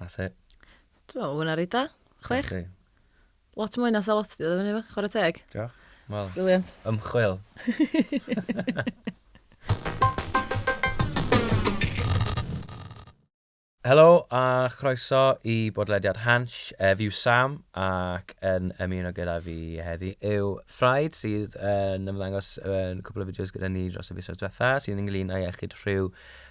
That's it. Dwi'n meddwl hwnna reit da. Chwech. Felly, Lot mwy na sa lot di oedden ni efo, chwarae teg. Diolch. Wel, Brilliant. ymchwil. Helo a chroeso i bodlediad Hansh. Ef yw Sam ac yn ymuno gyda fi heddi yw Ffraid sydd yn ymddangos yn cwpl o fideos gyda ni dros y fisoedd diwetha sydd ynglyn â iechyd rhyw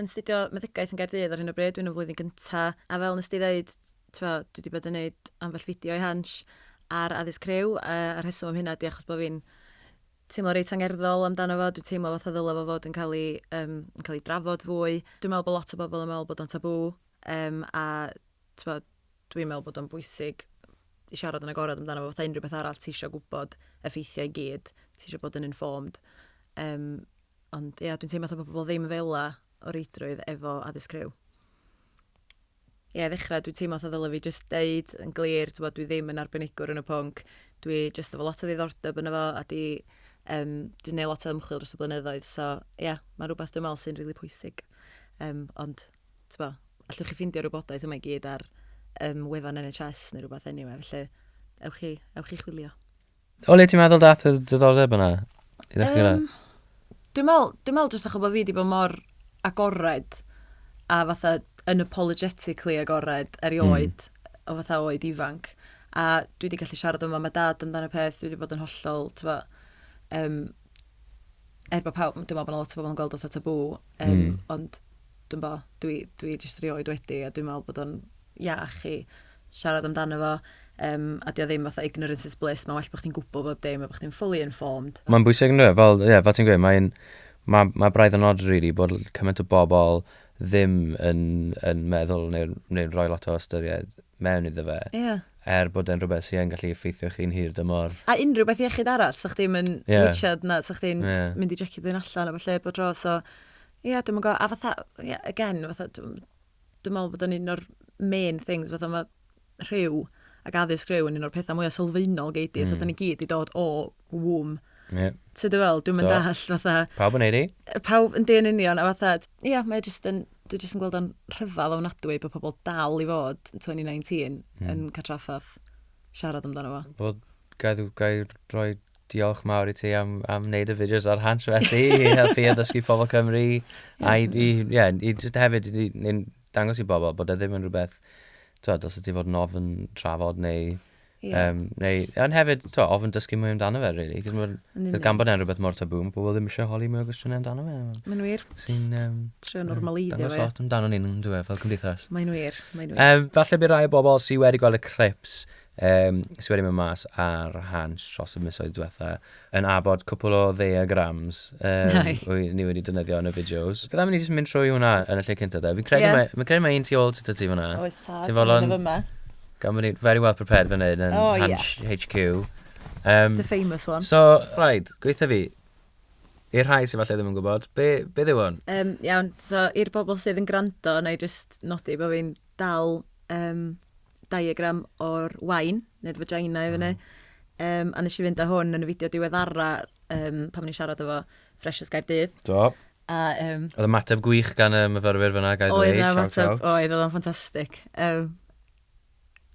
yn astudio meddygaeth yn Gaerdydd ar hyn o bryd, dwi'n yn flwyddyn gynta, a fel nes di ddeud, twa, dwi wedi bod yn gwneud ambell fideo i Hans ar addysg criw, a a'r rheswm am hynna di achos bod fi'n teimlo reit angerddol amdano fo, dwi'n teimlo fatha ddylai fo fod yn cael ei, um, yn cael ei drafod fwy. Dwi'n meddwl bod lot o bobl yn meddwl bod o'n tabw, um, a twa, dwi'n meddwl bod o'n bwysig i siarad yn agorad amdano fo, fatha unrhyw beth arall ti eisiau gwybod effeithiau i gyd, ti eisiau bod yn informed. Um, Ond ia, dwi'n teimlo fatha bod pobl ddim fela o reidrwydd efo addysg criw. Ie, ddechrau, dwi'n teimlo fatha ddyla fi jyst deud yn glir, ti'n bod, dwi ddim yn arbenigwr yn y pwnc. Dwi jyst efo lot o ddiddordeb yn efo, a di, um, dwi'n neud lot o ymchwil dros y blynyddoedd, so ie, yeah, mae'n rhywbeth dwi'n meddwl sy'n rili really pwysig. Um, ond, ti'n bod, allwch chi ffeindio rhywbodaeth yma i gyd ar um, wefan NHS neu rhywbeth anyway, felly ewch chi, ewch chi chwilio. O le ti'n meddwl dath y diddordeb yna? I ddechrau gyda? Um, dwi'n meddwl, dwi'n meddwl jyst achos bod fi wedi bod mor agored a fatha unapologetically agored erioed mm. o fatha oed ifanc. A dwi wedi gallu siarad yma mae dad amdano peth, dwi wedi bod yn hollol, tyfa, um, er bod pawb, dwi'n meddwl bod yna lot o bobl yn gweld oedd tabw, um, mm. ond dwi'n bo, dwi, dwi jyst rioed wedi, a dwi'n meddwl bod o'n iach i siarad amdano fo yym a 'di o ddim fatha ignorance is bliss ma'n well bo' chdi'n gwbo bob dim a bo' chdi'n fully informed. Ma'n bwysig yndyw e? Fel ie fel ti'n gweud mae'n ma' ma' braidd yn od rili bod l- cymaint o bobl ddim yn yn meddwl neu neu'n rhoi lot o ystyried mewn iddo fe Ie. er bod e'n rhywbeth sy yn gallu effeithio chi'n hir dymor. A unrhyw beth iechyd arall 'sa chdi'm yn Ie. witchad na 'sa chdi'n Ie. mynd i jecio dy hun allan a ballu bob tro so ie dwi'm yn gw'o' a fatha ie again fatha dw'm dwi'n meddwl bod yn un o'r main things, fatha mae rhyw ac addysg rhyw yn un o'r pethau mwyaf sylfaenol gei di, mm. fatha ni gyd i dod o wwm. Yeah. Ti dy fel, dwi'n mynd all, fatha... Pawb yn eiri? Pawb yn dyn union, a fatha, ia, yeah, mae jyst yn, dwi jyst yn gweld o'n rhyfedd o'n adwy bod pobl dal i fod 2019 mm. yn catraffath siarad amdano fo. Wel, gael rhoi Diolch mawr i ti am, am wneud y fideos ar Hans felly, i helpu a ddysgu pobl Cymru. A i, i, yeah, i just hefyd, i, i dangos i bobl bod e ddim yn rhywbeth, twyd, os ydy fod yn ofyn trafod neu... Yeah. Um, neu, ond hefyd, to, ofyn dysgu mwy amdano fe, really. Cos mae'n, gan bod e'n rhywbeth mor tabŵ, mae pobl ddim eisiau holi mwy o gwestiynau amdano fe. Mae'n wir. Sy'n... Um, Trio normaleiddio fe. Dangos lot amdano ni'n dweud, fel cymdeithas. Mae'n wir, mae'n wir. Um, falle bydd rhai o bobl sydd wedi gweld y clips Yym, sy wedi mynd mas ar Hansh dros y misoedd diwetha, yn abod cwpl o ddaeagrams yym Nai. wy- ni wedi defnyddio yn y fideos. Bydda am i ni jyst mynd trwy hwnna yn y lle cynta de? Fi'n credu Ie. mae, fi'n credu mae un tu ôl tata ti fanna. Oes tad, Ti'n fodlon- un o fyma. Gan bod ni'n very well prepared fan hyn yn O, ie. Hansh HQ. Yym, The famous one. so, right, gweitha fi, i'r rhai sy falle ddim yn gwybod, be, beth yw hwn? Yym, iawn, so i'r bobl sydd yn gwrando, na i jyst nodi bod fi'n dal yym diagram o'r wain, neu'r vagina i fyny. Mm. Um, a nes i fynd â hwn yn y fideo diweddara um, pan ni'n siarad efo Freshers Gaerdydd. Do. A, um, oedd y mateb gwych gan y myfyrwyr fyna, gael dweud. Oedd y mateb, oedd, oedd o'n ffantastig. Um,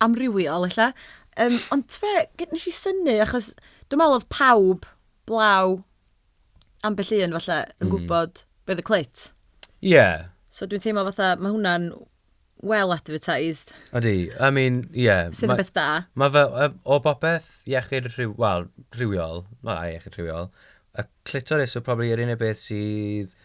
amrywiol, illa. Um, ond fe, nes i syni, achos dwi'n meddwl oedd pawb blaw ambell un, falle, yn mm. gwybod beth y clit. Ie. Yeah. So dwi'n teimlo fatha, mae hwnna'n well advertised. Ydy, I mean, ie. Yeah, Sydd yn beth da. Mae fe, o bopeth iechyd rhyw, wel, rhywiol, wel, a iechyd rhywiol, y clitoris yw probably yr unig beth sydd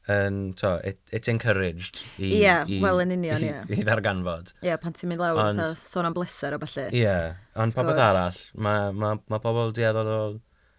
yn, to, it, it's encouraged i... Ie, yeah, wel yn union, ie. Yeah. I ddarganfod. Ie, yeah, pan ti'n mynd lawr, ond, sôn am bleser o falle. Ie, yeah, ond popeth arall, mae ma, ma pobl dueddol o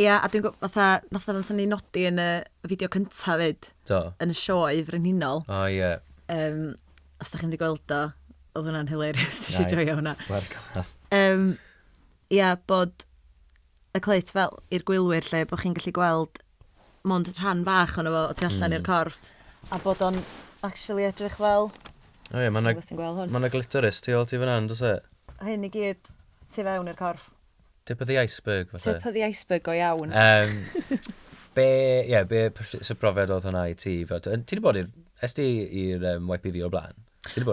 Ia, a dwi'n gwybod, fatha, fatha nathon ni nodi yn y fideo cynta 'fyd... Do. ...yn y Sioe Frenhinol... O ie. ...Yym, os dach chi'm 'di gweld o, oedd hwnna'n hilarious, nes i joio hwnna. Reit, werth gwylio. Yym, ia, bod y clit fel i'r gwylwyr 'lly, bo' chi'n gallu gweld mond rhan fach ohono fo o tu allan i'r corff, a bod o'n actually edrych fel... O ie, ma' 'na... Dwi'm yn gwybod os ti'n gweld hwn. ...ma' 'na glitoris tu ôl ti fan'na yn does e? Hyn i gyd tu fewn i'r corff. Tip of the iceberg, falle. Tip of the iceberg go iawn. Um, be, yeah, be, so profiad oedd hwnna i ti? Ti wedi bod i'r, es ti i'r um, YPV o'r blaen?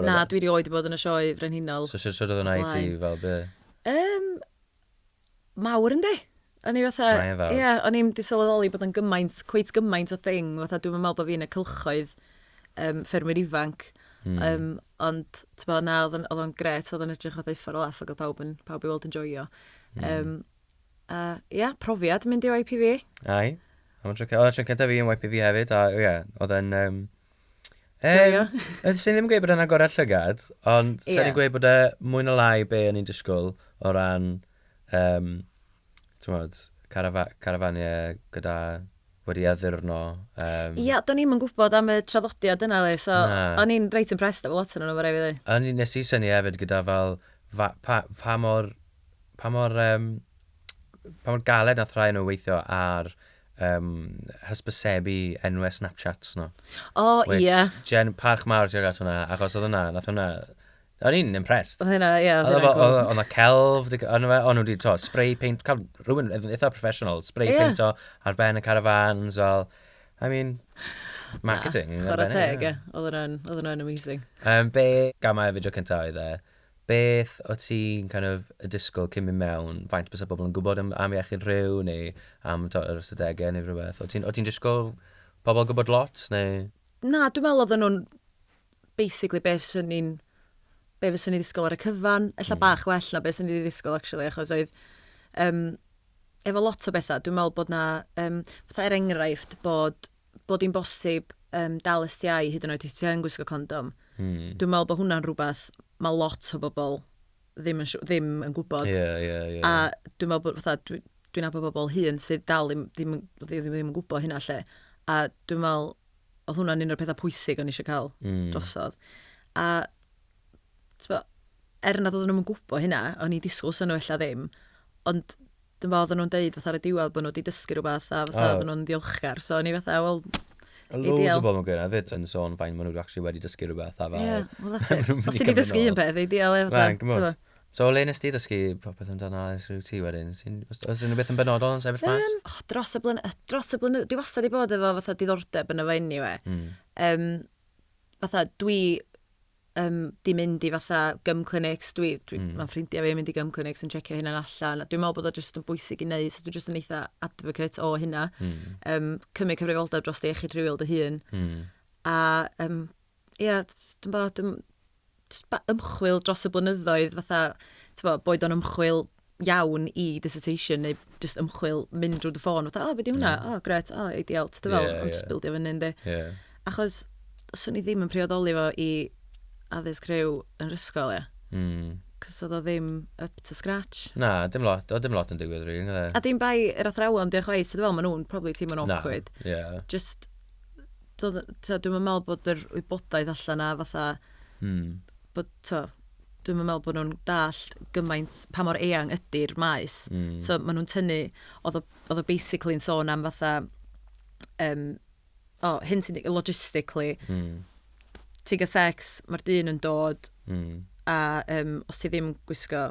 Na, dwi wedi oed i bod yn y sioe frenhinol. So sut oedd hwnna i ti fel be? Um, mawr yndi. O'n i fatha... Ie, yeah, o'n i'n disylweddoli bod yn gymaint, cweit gymaint o thing. Fatha, dwi'n meddwl bod fi'n y cylchoedd um, ffermwyr ifanc. Mm. Um, ond, ti'n bod, na, oedd o'n gret, oedd o'n edrych o ddeiffar o laff ac oedd pawb, yn, pawb i weld yn joio. Mm. Um, a, ia, profiad mynd i YPV. Ai. Oedd o'n trycyn da fi yn YPV hefyd, a ia, oedd o'n... Um, Joio. Um, Sa'n ddim yn gweud bod yna gorau llygad, ond yeah. sa'n ni'n gweud bod e mwy na lai be o'n i'n disgwyl o ran Yym, t'mod, carafa- carafaniau gyda... wedi addurno, yym... Ia, do'n i'm yn gwybod am y traddodiad yna 'li, so... Na. ...o'n i'n reit impressed efo lot ohonyn nhw, ma' raid fi ddeud. A o'n i... wnes i synnu hefyd gyda fel fa- pa- pa mor, pa mor yym, pa mor galed wnaeth rhai o nhw weithio ar yym hysbysebu enwau Snapchats nhw... O, ia. ...which, gen- parch mawr tuag at hwnna, achos oedd hwnna, wnaeth hwnna... O'n i'n impressed. Oedd hynna, ie, oedd hynna'n cool. Oedd yna celf, o'n nhw wedi to, spray paint, cael rhywun eitha professional, spray yeah. paint o ar ben y caravans, fel, I mean, marketing. Na, chwarae teg, ie. Oedd hwnna'n amazing. Um, be, gamau y fideo cyntaf oedd e, beth o ti'n kind of, y disgwyl cyn mynd mewn, faint bys y bobl yn gwybod am, am iechyd rhyw, neu am to, yr ystadegau neu rhywbeth? O ti'n disgwyl pobl gwybod lot, neu... Na, dwi'n meddwl oedden nhw'n basically be fyswn i'n... be fyswn i'n ddisgwyl ar y cyfan. Ella bach well na be swn i 'di ddisgwyl actually achos oedd yym efo lot o bethau dwi'n meddwl bod 'na yym fatha er enghraifft bod bod hi'n bosib yym dal STI hyd yn oed os ti yn gwisgo condom. Hmm. Dwi'n meddwl bod hwnna'n rhywbeth mae lot o bobl ddim yn ddim yn gwybod. Ie, ie, ie. A dwi'n meddwl bod fatha dwi dwi'n nabod bobl hŷn sydd dal ddim ddim ddim ddim yn gwybod hynna lle. A dwi'n meddwl oedd hwnna'n un o'r pethau pwysig o'n eisiau cael mm. drosodd. A, tbo, er nad oedden nhw'n gwybod hynna, o'n i disgwyl sy'n nhw ella ddim, ond dwi'n fawr oedden nhw'n deud fatha ar y diwedd bod nhw wedi dysgu rhywbeth a fatha oh. oedden nhw'n ddiolchgar. So o'n i fatha, wel, Loads o bobl yn gwneud hefyd yn sôn fain maen nhw actually wedi dysgu rhywbeth a fel... Ie, well that's it. Os ti wedi dysgu un peth, ei dial e fatha. Mae'n gymwys. So, le nes ti ddysgu popeth amdano ASRUT wedyn? Wyt ti'n... Oes, oes unrhyw beth yn benodol yn sefyll mas? Yym, o, dros y blyny- yy, dros y blyny- dwi wastad 'di bod efo fatha diddordeb yno fo eniwe. Mm. Yym, fatha, dwi, yym, 'di mynd i fatha gum clinics, dwi, dwi, Mm. ma'n ffrindia fi yn mynd i gum clinics yn checio hynna'n allan, a dwi'n meddwl bod o jyst yn bwysig i neud, so dwi jyst yn eitha advocate o hynna. Mm. Yym, cymryd cyfrifoldeb dros dy iechyd rhywiol dy hun, Mm. a, yym, ia, jyst yn barod yn jyst ba- ymchwil dros y blynyddoedd fatha, t'bo', boed o'n ymchwil iawn i dissertation neu jyst ymchwil mynd drwy dy ffôn fatha, "O, be 'di hwnna? O, gret, o, ideal." T'bo' fel, ond jyst bildio fyny yndi? Ie. Achos swn i ddim yn priodoli fo i addysg rhyw yn yr ysgol ia. Mm. Cos oedd o ddim up to scratch. Na, dim lot, oedd dim lot yn digwydd rili, really, A dim bai yr athrawon 'di o chwaith, so dwi'n meddwl maen nhw'n probably teimlo'n awkward. Na, ie. Just do, twa, dwi'n meddwl bod yr wybodaeth allan na fatha, mm. bod, twa, dwi'n meddwl bod nhw'n dallt gymaint pa mor eang ydy'r maes. Mm. So maen nhw'n tynnu, oedd o, basically yn sôn am fatha, um, o, oh, hyn sy'n logistically, mm. ti'n gael sex, mae'r dyn yn dod, mm. a um, os ti ddim gwisgo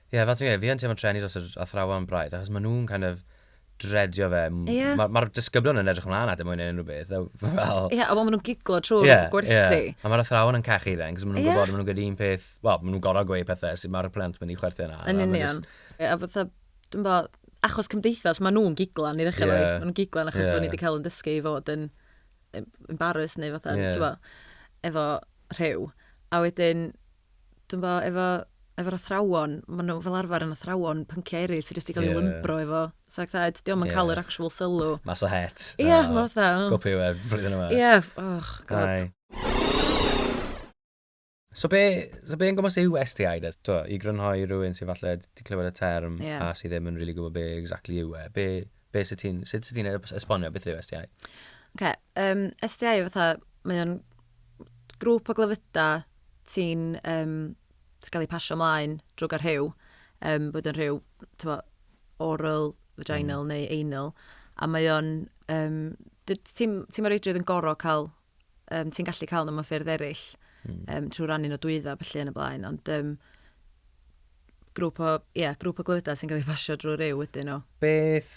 Ie, fel ti'n gweud, fi yn teimlo treni dros yr athrawon braidd, achos maen nhw'n kind of dreadio fe. Ie. Ma- Mae'r disgyblion yn edrych ymlaen at e mwy na unrhyw beth, a fel... Ie, a wel maen nhw'n giglo trwy'r Ie, ie. gwersi. A mae'r athrawon yn cachu fe, achos maen nhw'n Ie. gwybod maen nhw'n gweud un peth... Wel, maen nhw'n gorfod gweud pethau sut mae'r plant yn mynd i chwerthin arno, a Yn maen nhw union. jyst... Ie, a fatha, dwi'n bo, achos cymdeithas, maen nhw'n giglan i ddechrau efo hi. Ie. Maen nhw'n giglan achos Ie. bod ni wedi cael ein dysgu i fod yn em- embarrassed neu fatha, Ie. ti'n gwybod, efo rhyw. A wedyn... Dwi'n bo, efo, efo'r athrawon, maen nhw fel arfer yn athrawon pynciau eraill sydd jyst wedi cael eu lymbro efo Psych Ed. Ie. Dio'm yn cael yr actual sylw. Mas o het. Ie, ma' fatha, o. Go pwy a ŵyr flwyddyn yma. Ie, och, God. Ai. So be, so be yn gwmws yw STI de? Tibod, i grynhoi rhywun sydd falle 'di clywed y term a sydd ddim yn rili gwybod be exactly yw e, be, Be sydd ti'n... Sut sydd ti'n esbonio beth yw SDI? Ok, um, SDI yw fatha, mae o'n grŵp o glyfyda ti'n um, gael ei pasio ymlaen drwy gael rhyw, um, bod yn rhyw tywa, oral, vaginal mm. neu anal, a mae o'n, um, ti'n ti, ti reidrwydd yn gorau cael um, ti'n gallu cael nhw mewn ffyrdd eraill, mm. um, trwy rannu nhw dwydda, felly yn y blaen, ond um, grŵp o, yeah, grŵp o glywydau sy'n cael ei basio drwy ryw ydyn nhw. Beth,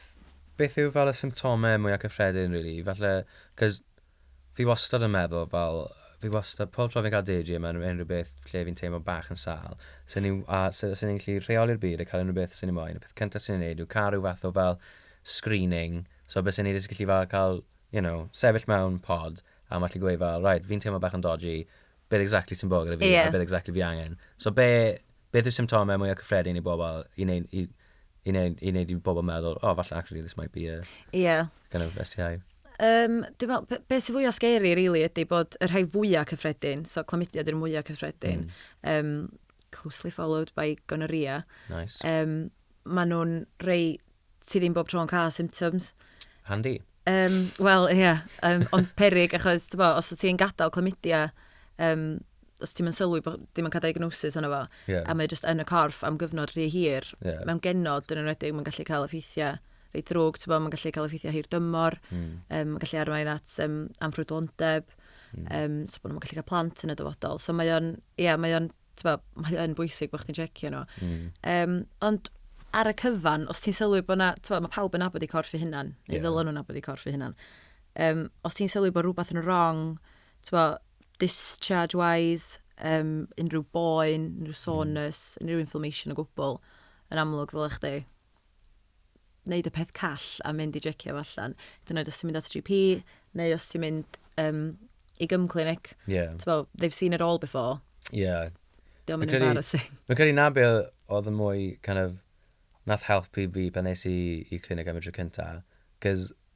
beth yw fel y symptomau mwyaf cyffredin, really? Falle, cos fi wastad yn meddwl fel, fi wastad, pob tro fi'n cael deidri yma, yn unrhyw beth lle fi'n teimlo bach yn sal, sy'n ni'n gallu rheoli'r byd a cael unrhyw beth sy'n ni'n moyn. Y peth cyntaf sy'n ni'n neud yw cael rhyw fath o fel screening, so beth sy'n ni'n gallu fel cael you know, sefyll mewn pod a mae gallu gweud fel, right, fi'n teimlo bach yn dodgy, beth exactly sy'n bod gyda fi yeah. a beth exactly fi angen. So be, beth yw symptomau mwyaf cyffredin i bobl i wneud i, i, neud, i, neud i bobl meddwl, oh, falle actually this might be a yeah. kind of STI. Um, dwi'n meddwl, be, be sy'n fwyaf scary, really, ydy bod y rhai fwyaf cyffredin, so clamydia ydy'r mwyaf cyffredin, mm. um, closely followed by gonorrhea. Nice. Um, maen nhw'n rei ti ddim bob tro yn cael symptoms. Handi. Um, Wel, ie, yeah, um, ond perig achos, ti'n bo, os ti'n gadael clymidia, um, os ti'n mynd sylwi bod ddim yn cael diagnosis yna fo, yeah. a mae jyst yn y corff am gyfnod rhy hir, yeah. mewn genod yn enwedig, mae'n gallu cael effeithiau rei drwg, ti'n bod, mae'n gallu cael effeithiau hir dymor, mm. um, mae'n gallu arwain at um, amrwydlondeb, mm. um, so bod nhw'n gallu cael plant yn y dyfodol. So mae o'n, ie, yeah, mae o'n Bo, mae yn bwysig bod chdi'n checio nhw. Mm. Um, ond ar y cyfan, os ti'n sylwi bod yna, mae pawb yn abod i corff i hunan, neu yeah. ddylen nhw'n abod i corff i hunan. Um, os ti'n sylwi bod rhywbeth yn wrong, bo, discharge-wise, um, unrhyw boen, unrhyw hmm. soreness, mm. unrhyw inflammation o gwbl, yn amlwg ddylech chdi wneud y peth call a mynd i jecio fo allan. Hyd yn oed os ti'n mynd at GP, neu os ti'n mynd um, i gym clinic. Yeah. Bo, they've seen it all before. Yeah. Diolch yn embarrassing. Mae'n credu na be oedd yn mwy, kind of, nath helpu fi pan nes i i clinic am y tro cynta. Cys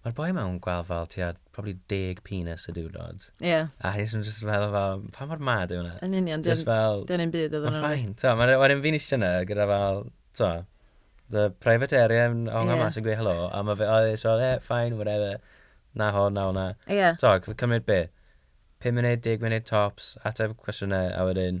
Mae'r boi yma yn gweld fel tua probably deg penis y diwrnod. Ie. A hi jyst yn jyst fel, fel, pa mor mad yw hwnna? Yn union, dio'n... Jyst fel... Dio'n un byd iddyn nhw. Mae'n fine, t'o'. Mae wedyn fi'n ishte yna gyda fel, t'o', fy private area yn hongian... Ie. ...mas yn gweud helo, a ma' fe o jyst fel, ie, fine, whatever. 'Na hwn, 'na hwnna. Ie. T'o' gallu cymryd be'? Pum munud, deg munud tops, ateb cwestiynau a wedyn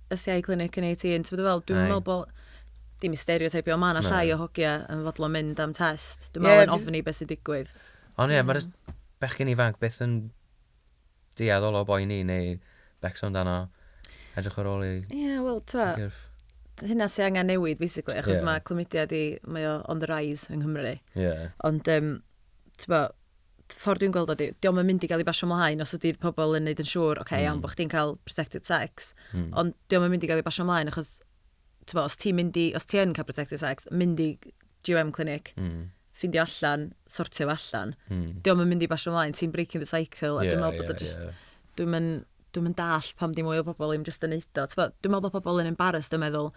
y CI clinic yn 18, ti'n meddwl, dwi'n meddwl bod, dim i stereotypio, mae yna llai o hogia yn fodlon mynd am test. Dwi'n meddwl yn ofni beth sy'n digwydd. Ond ie, mae'r bechgyn ifanc beth yn deall o boi ni neu becso amdano. Edrych ar ôl i... Ie, wel, ta. Hynna sy'n angen newid, basically, achos yeah. mae clymudiad i, mae o on the rise yng Nghymru. Yeah. Ond, um, ti'n bo, ffordd dwi'n gweld o di, diolch yn mynd i gael ei basio mlaen os ydy'r pobl yn neud yn siŵr, oce, okay, iawn, bod chdi'n cael protected sex, mm. ond diolch yn mynd i gael ei basio mlaen achos, ti'n os ti'n mynd i, os ti yn cael protected sex, mynd i GWM clinic, mm. ffindio allan, sortio allan, mm. diolch yn mynd i basio mlaen, ti'n breaking the cycle, a yeah, dwi'n meddwl bod yeah, just, yeah. dwi'n mynd, dwi'n mynd dall pam di mwy o bobl i'n just yn neud o. Dwi'n meddwl bod pobl yn embarrassed yn meddwl,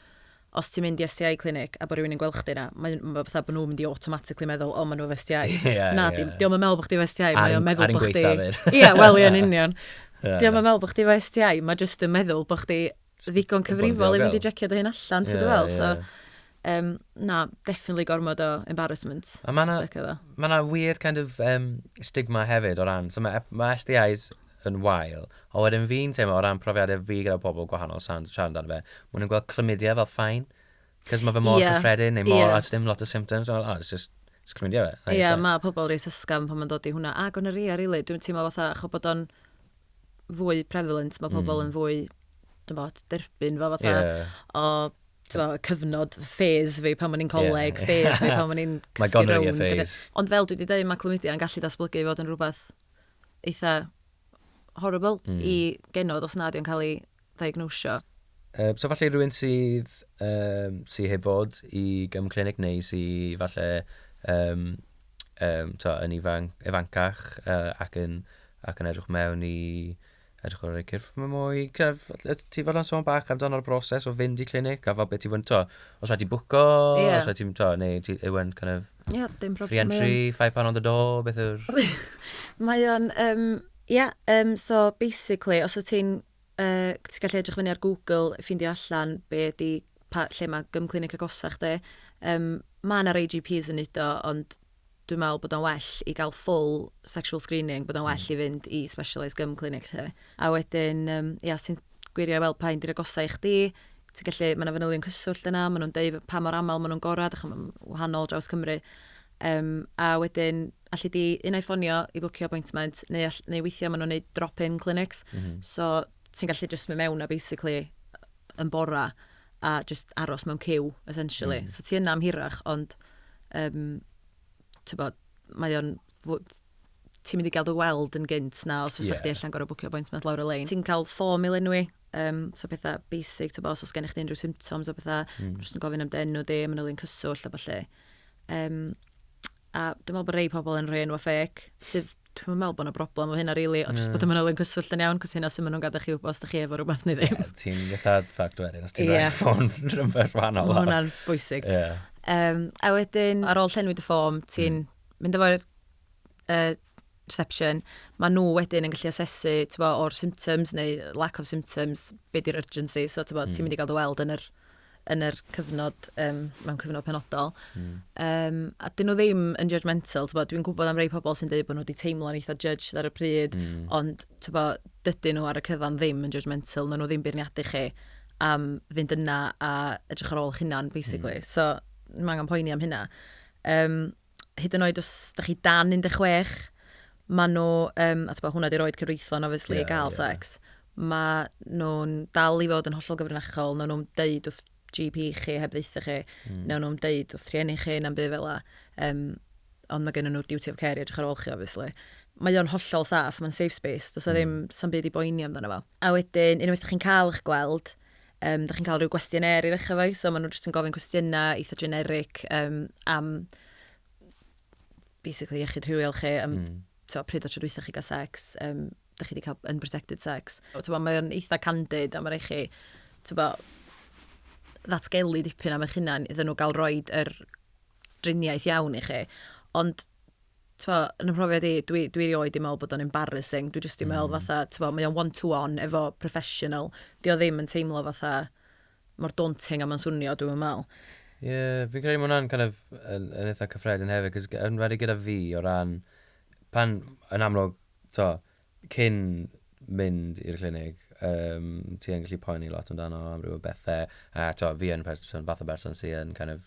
os ti'n mynd i STI clinic a bod rhywun yn gweld chdi yna, mae nhw fatha bod nhw'n mynd i automatically meddwl, o, maen nhw efo STI. Na, di o'm yn meddwl bod chdi efo STI, mae o'n meddwl bod chdi... Ie, wel, ie, yn union. Di o'm yn meddwl bod chdi efo STI, mae jyst yn meddwl bod chdi ddigon cyfrifol i fynd i jecio dy hun allan, ti'n dweud fel. So, na, definitely gormod o embarrassment. A mae yna weird kind of stigma hefyd o ran, so mae STIs yn wael. Ond wedyn fi'n teimlo o ran profiadau fi gyda pobl gwahanol siarad amdano fe, maen nhw'n gweld clymidie fel fine. Cos mae fe mor cyffredin neu mor... a sdim lot o symptoms. Oh, it's just, it's clymidie fe. Ie, mae pobl reit ysgafn pan mae'n dod i hwnna. A gonorrhea rili. Dwi'n teimlo fatha achos bod o'n fwy prevalent, mae pobl yn fwy, dwi'n bod, derbyn fo fatha. O, ti'n cyfnod ffes fi pan o'n i'n coleg, ffes fi pan o'n i'n cysgu rownd. Ond fel dwi wedi dweud, mae clymidie yn gallu datblygu i fod yn rhywbeth eitha horrible mm. i genod os nad yw'n cael ei ddiagnosio. Uh, so falle rhywun sydd, um, sydd heb fod i gym clinic neu sydd falle um, um, to, yn ifan, ifancach uh, ac, yn, ac yn edrych mewn i Edrych ar y cyrff mae mwy, cyrff, ti fod yn sôn bach amdano'r broses o fynd i clinic a fel beth ti'n fod yn to. Os rhaid ti bwco, yeah. os rhaid ti'n to, neu ti ewen kind of... yeah, dim problem. Free entry, um... five pound on the door, beth yw'r... mae o'n, um, yeah, um, so basically, os wyt ti'n, uh, ti'n gallu edrych fyny ar Google, ffindio allan be di, pa, lle mae gym clinic agosach di, um, mae yna AGPs yn neud o, ond dwi'n meddwl bod o'n well i gael full sexual screening, bod o'n well i fynd i specialised gum clinic lle. A wedyn, um, ia, ti'n gwirio i weld pa un di'r agosau i chdi, ti'n gallu, mae yna fanylion cyswllt yna, maen nhw'n deud pa mor aml maen nhw'n gorau, dych chi'n wahanol draws Cymru. Um, a wedyn, allu di unau ffonio i bwcio appointment, neu, all, neu weithiau maen nhw'n neud drop-in clinics, mm -hmm. so ti'n gallu just mynd mewn a basically yn bora a just aros mewn cyw, essentially. Mm. So ti yna am hirach, ond Yym, tibod, mae o'n... ti'n mynd i gael dy weld yn gynt na os fysa yeah. chdi allan gorau bwcio appointment lawr y lein. Ti'n cael ffom i lenwi, um, so pethau basic, tibod, os oes gennych chi unrhyw symptoms o pethau, mm. jyst yn gofyn am dy enw di, mae'n ylun cyswllt a falle. Um, a dwi'n meddwl bod rei pobl yn rhoi enw ffec, sydd Dwi'm yn meddwl bod 'na broblem efo hynna rili, ond jyst bod y manylion cyswllt yn iawn, cos hynna sy'n maen nhw'n gadael chi wybod os da chi efo rhywbeth neu ddim. Ie, ti'n fatha ffact wedyn, os ti'n rhoi ffôn rhywbeth wahanol. Mae hwnna'n bwysig. Ie. Um, a wedyn, ar ôl llenwi dy ffom, ti'n mm. mynd efo'r uh, reception, mae nhw wedyn yn gallu asesu bo, o'r symptoms neu lack of symptoms, be di'r urgency, so ti'n mm. mynd i gael dy weld yn yr yn yr cyfnod, um, mewn cyfnod penodol. Mm. Um, a dyn nhw ddim yn judgmental, dwi'n gwybod am rei pobl sy'n dweud bod nhw wedi teimlo'n eitha judged ar y pryd, mm. ond bo, dydyn nhw ar y cyfan ddim yn judgmental, nhw ddim beirniadu chi am fynd yna a edrych ar ôl chi'n hunan, basically. Mm. So, mae angen poeni am hynna. Um, hyd yn oed os da chi dan 16, maen nhw, um, a bod, hwnna di'r oed cyfreithlon, obviously, yeah, i gael yeah. sex, maen nhw'n dal i fod yn hollol gyfrinachol, nawn nhw'n deud wrth GP chi heb ddeitha chi, mm. nawn nhw'n deud wrth rhieni chi, na'n bydd fel la. Um, ond mae gennym nhw'r duty of care i edrych ar ôl chi, obviously. Mae o'n hollol saff, mae'n safe space, does mm. ddim, sa'n byd i boeni amdano fo. A wedyn, unwaith ydych chi'n cael eich gweld, Yym, dach chi'n cael rhyw gwestiynêr i ddechrau fo, so maen nhw jyst yn gofyn cwestiynau eitha generic um, am basically iechyd rhywiol chi, am mm. to, pryd o tro dwytha chi gael sex, um, dych chi wedi cael unprotected sex. Bo, mae'n eitha candid a mae'n eich chi tybo, ddatgelu dipyn am eich hunan iddyn nhw gael roed yr driniaeth iawn i chi. Ond t'mo' yn 'y mhrofiad i, dwi dwi erioed 'di me'wl bod o'n embarrassing, dwi jyst 'di me'wl hmm. fatha t'mo' mae o'n one to one efo professional, 'di o ddim yn teimlo fatha mor daunting a ma'n swnio dwi'm yn me'wl. Ie, fi'n credu ma' hwnna'n kind of yn yn eitha cyffredin hefyd 'c'os g- yn wedi gyda fi o ran pan yn amlwg t'o' cyn mynd i'r clinig um, ti yn gallu poeni lot amdano amryw o bethe a t'o' fi yn person fath o berson sy yn kind of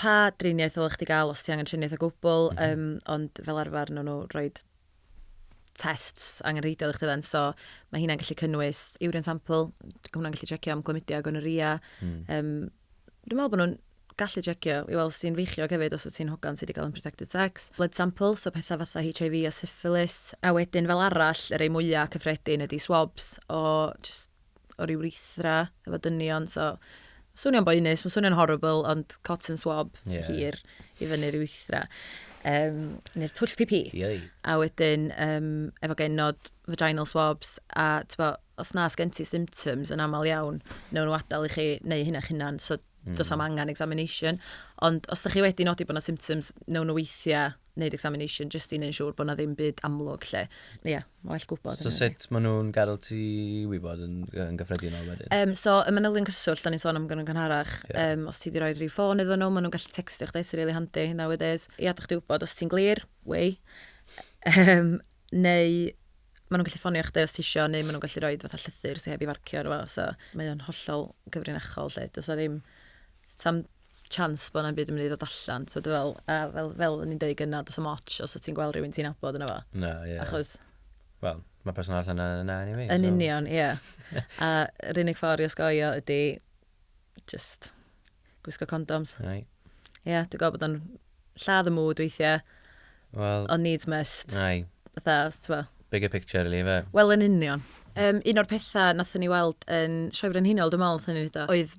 pa driniaeth ddylech chdi gael os ti angen triniaeth o gwbl, mm -hmm. um, ond fel arfer nhw nhw roi tests angenrheidiol i chdi dden, so mae hynna'n gallu cynnwys urine sample, hwnna'n gallu checio am glymidiau gonoria. Mm. Um, dwi'n meddwl bod nhw'n gallu checio i weld sy'n feichiog hefyd os wyt ti'n hogan sydd wedi cael unprotected sex. Blood sample, so pethau fatha HIV a syphilis. A wedyn fel arall, yr ei mwyaf cyffredin ydy swabs o just o'r urethra efo dynion, so swnio'n boenus, mae'n swnio'n horrible, ond cotton swab yeah. hir i fyny'r urethra. Um, neu'r twll pipi. Yei. A wedyn, um, efo genod vaginal swabs, a tyfo, os na sgen ti symptoms yn aml iawn, newn nhw adael i chi neu hynna chynan, so mm. dos am angen examination. Ond os ydych chi wedi nodi bod yna symptoms, newn nhw weithiau neud examination jyst i neud siŵr bod na ddim byd amlwg lle. Ie, yeah, well gwybod. So sut maen nhw'n gadael ti wybod yn, yn gyffredinol wedyn? Um, so, y manylion cyswllt, da ni'n sôn am gynnydd gynharach. Yeah. Um, os ti wedi rhoi rhyw ffôn iddyn nhw, maen nhw'n gallu textio chdi, sy'n really handy nowadays. Ia, da chdi wybod os ti'n glir, wei. Um, neu maen nhw'n gallu ffonio chdi os ti isio, neu maen nhw'n gallu rhoi fatha llythyr sy'n heb i farcio ar so mae o'n hollol gyfrinachol lle. Does o ddim, tam chance bod na'm byd yn mynd i ddod allan. So, dwi fel, a fel, fel o'n i'n deud gynna, dos am ots os o ti'n gweld rhywun ti'n abod yna fo. Na, ie. Yeah. Achos... Wel, mae person allan yna yna anyway. Yn so. union, ie. Yeah. a yr unig ffordd i osgoio ydy just gwisgo condoms. Ie, yeah, dwi'n gweld bod o'n lladd y mwyd weithiau. Wel... Ond needs must. Ai. Fatha, os ti'n fel. Bigger picture, really, fe. Wel, yn union. Um, un o'r pethau nath ni weld yn Sioe Frenhinol, dwi'n meddwl, nath ni wneud oedd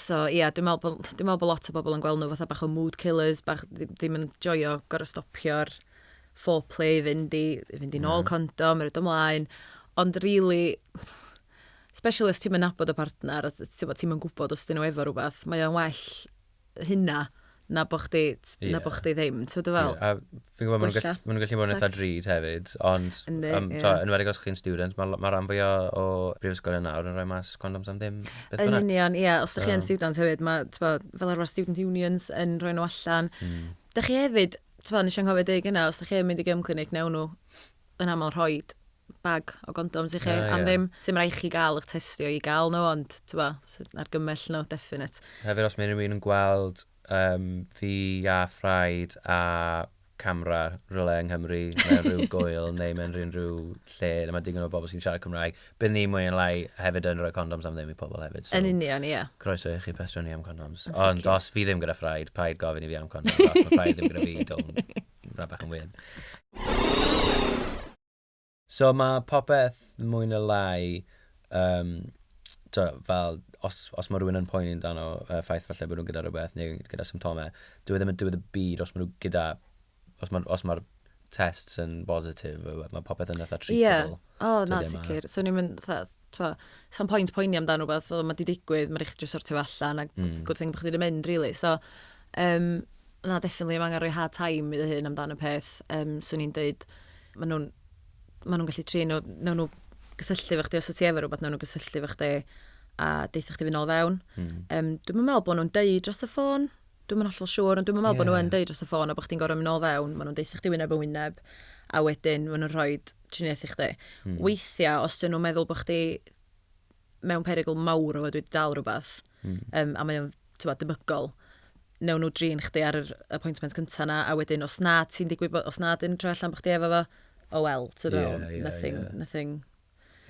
So ia, dwi'n meddwl bod, dwi'n meddwl bod lot o bobl yn gweld nhw fatha bach o mood killers, bach ddim yn joio gorau stopio'r foreplay i fynd i, i fynd i nôl yeah. condom, yr ymlaen. Ond really, especially os ti'n mynd nabod y partner, ti'n mynd gwybod os dyn nhw efo rhywbeth, mae o'n well hynna na bo chdi, na yeah. bo chdi ddim, ti'n dwi fel? Yeah. A fi'n gwybod, maen nhw'n ma nhw gallu bod yn eitha drud hefyd, ond yn um, yeah. enwedig os chi'n student, mae ma rhan fwy o brifysgol yn nawr yn rhoi mas condoms am ddim. Yn union, ie, yeah, os ydych chi yn student hefyd, mae fel arfer student unions yn rhoi nhw allan. Mm. Da chi hefyd, ti'n nes i'n cofio dweud gyna, os ydych chi'n mynd i gymclinig, newn nhw yn aml rhoi bag o gondoms i chi yeah, am ddim. Sim rhaid chi gael eich testio i gael nhw, ond tywa, argymell nhw, definite. Hefyd os mae rhywun yn gweld um, fi a ffraid a camera rhywle yng Nghymru mewn rhyw gwyl neu mewn rhyw lle lle mae digon o bobl sy'n siarad Cymraeg. Bydd ni mwy yn lai hefyd yn rhoi condoms am ddim i pobl hefyd. So, yn union, ie. Yeah. Croeso i chi pestro ni am condoms. Ond os fi ddim gyda ffraid, paid gofyn i fi am condoms. os mae ffraid ddim gyda fi, don't. Rhaid bach yn weird. So ma' popeth mwy ne' lai yym t'o' fel os os ma' rywun yn poeni amdano y ffaith falle bo' nw gyda rwbeth neu gyda symptome dyw e ddim yn diwedd y byd os ma' nw gyda os ma'r os ma'r tests yn bositif ma' popeth yn fatha treatable. Ie. O na sicir. Swn i'm yn fatha T'mo', sa'm point poeni amdan rwbeth, o ma' 'di digwydd, ma' rai' chi jyst sortio fo allan, a Hmm. good thing bo' chdi 'di mynd rili. So yym na definitely ma' angen rhoi hard time i dy hun amdan y peth. Yym swn i'n deud ma' nw'n ma' nw'n gallu trin o newn nw gysylltu efo chdi os wt ti efo rwbeth newn nw gysylltu efo chdi a deutha chdi fyn nôl fewn. Hmm. Yym dwi'm yn me'wl bo' nw'n deud dros y ffôn. Dwi'm yn hollol siŵr ond dwi'm yn meddwl bod nhw yn deud dros y ffôn a bod chdi'n gorfod mynd nôl fewn, maen nhw'n deutha chdi wyneb yn wyneb a wedyn maen nhw'n rhoi triniaeth i chdi. Weithiau, os dyn nhw'n meddwl bod chdi mewn perygl mawr o fod wedi dal rhywbeth um, a mae o'n debygol, newn nhw drin chdi ar yr appointment cyntaf na, a wedyn os na ti'n digwydd, os na dyn nhw'n troi allan bod chdi efo fo, oh well, ti'n yeah, yeah, nothing, yeah. nothing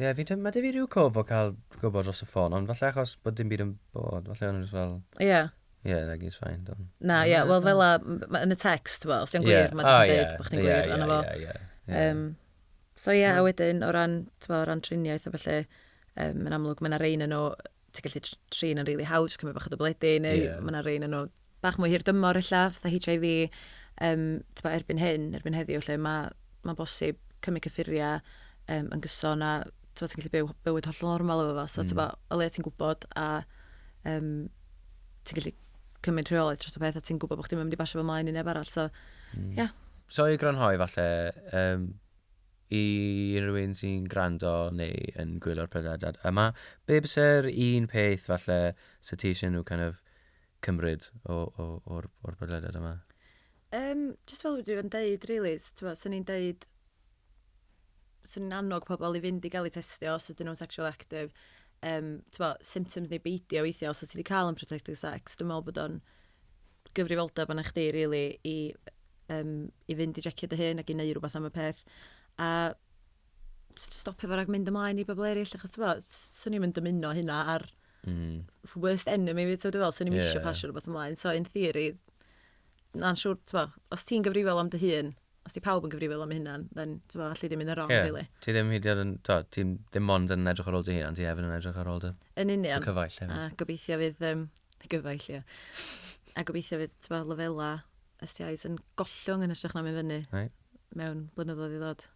Ie, fi dim... Mae 'da fi rhyw cof o cael gwybod dros y ffôn, ond falle achos bod dim byd yn bod, falle o'n nhw jyst fel... Ie. ...Ie, like it's fine, don't... Na, ie, wel fel 'na, m- yn y text, tibod, os 'di o'n gwir, mae jyst yn deud bod chdi'n gwir, ond 'na fo. Ie, ie, ie, ie. Yym, so ie, a wedyn o ran, tibod, o ran triniaeth a ballu, yym, yn amlwg, mae 'na rei ohonyn nhw... ti'n gallu tr- trin yn rili hawdd, jyst cymryd bach o dybledi, neu yeah. mae yna rei yn nhw bach mwy hir dymor illa, fatha HIV, um, tyba, erbyn hyn, erbyn heddiw, lle mae ma bosib cymryd cyffuriau um, yn gyson a ti'n gallu byw bywyd hollol normal efo fo. So, mm. tyba, o leia ti'n gwybod a um, ti'n gallu cymryd rheolaeth dros y peth a ti'n gwybod bod chdi'n mynd i basio fo mlaen i neb arall. So, mm. yeah. So i grynhoi falle, um, I unrhyw un sy'n gwrando neu yn gwylio'r podlediad yma, be byse'r un peth falle sa ti eisiau nhw kind of cymryd o, o, o'r, o'r podlediad yma? Um, just fel dwi yn deud, really, sy'n ni'n deud sy'n ni'n annog pobl i fynd i gael eu testio os ydyn nhw'n sexual active, um, bo, symptoms neu beidio weithiau os oes ti wedi cael yn protected sex, dwi'n meddwl bod o'n gyfrifoldeb arna chdi rili i yym i fynd i jecio dy hun ac i neu' rwbath am y peth a s- stopio fo rag mynd ymlaen i bobol eryll achos t'mo' s- swn i'm yn dymuno hynna ar Hmm. f- worst enemy fi t'o' dwi fel swn i'm isio Ie. pasio rwbath ymlaen so in theory na'n siŵr t'mo' os ti'n gyfrifol am dy hun os 'di pawb yn gyfrifol am 'u hunan then t'mo' alli di mynd yn rong Ie. rili. Ti ddim hyd yn o'd yn t'o' ti ddim ond yn edrych ar ôl dy hun ond ti hefyd yn edrych ar ôl dy Yn union. dy cyfaill hefyd. A gobeithio fydd yym Gyfaill, ie. A gobeithio fydd, ti'n lefelau STIs yn gollwng yn ysgrach na mynd fyny. Ai. Mewn blynyddoedd i ddod.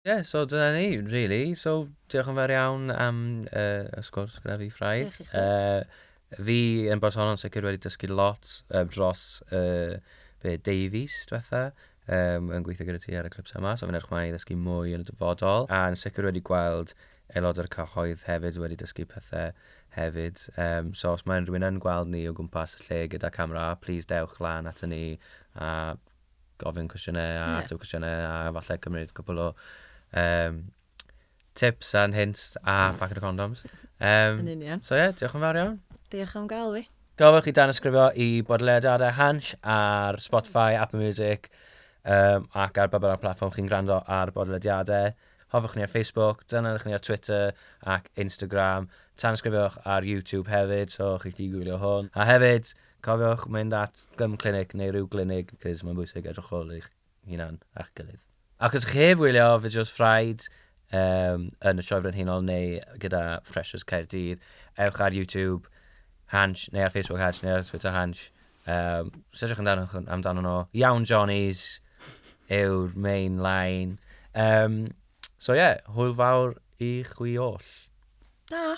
Ie, yeah, so dyna ni, really. So, diolch yn fawr iawn am uh, y sgwrs gyda fi, Ffraid. Diolch i chi. Uh, fi yn bod honno'n sicr wedi dysgu lot uh, dros uh, be, deu fis diwetha um, yn gweithio gyda ti ar y clipsau yma, so fi'n edrych mlaen i ddysgu mwy yn y dyfodol, a yn sicr wedi gweld aelod o'r cyhoedd hefyd wedi dysgu pethe hefyd yym so os ma' unrhyw un yn gweld ni o gwmpas y lle gyda camera plîs dewch lan ato ni a gofyn cwestiyne a Ie. ateb cwestiyne a falle cymryd cwpwl o yym tips and hints a packet of condoms yym Yn union. so ie diolch yn fawr iawn. Diolch am ga'l fi. Gofynnwch i danysgrifio i Bodlediadau Hansh ar Spotify, Apple Music yym ac ar ba bynnag platfform chi'n gwrando ar bodlediadau. Hoffwch ni ar Facebook, dilynwch ni ar Twitter ac Instagram. Tanysgrifiwch ar YouTube hefyd, so chi'n gallu gwylio hwn. A hefyd, cofiwch mynd at gym clinic neu ryw glinig, cos mae'n bwysig edrych ar ôl eich hunan a'ch gilydd. Ac os chi'n heb wylio fideos Ffraid um, yn y Sioe Frenhinol neu gyda Freshers Caerdydd, ewch ar YouTube Hansh, neu ar Facebook Hansh, neu ar Twitter Hansh, Yym, sefyllwch amdano, amdano nhw. Iawn Johnnies yw'r main line. Um, so ie, yeah, hwyl fawr i chwi oll. Da!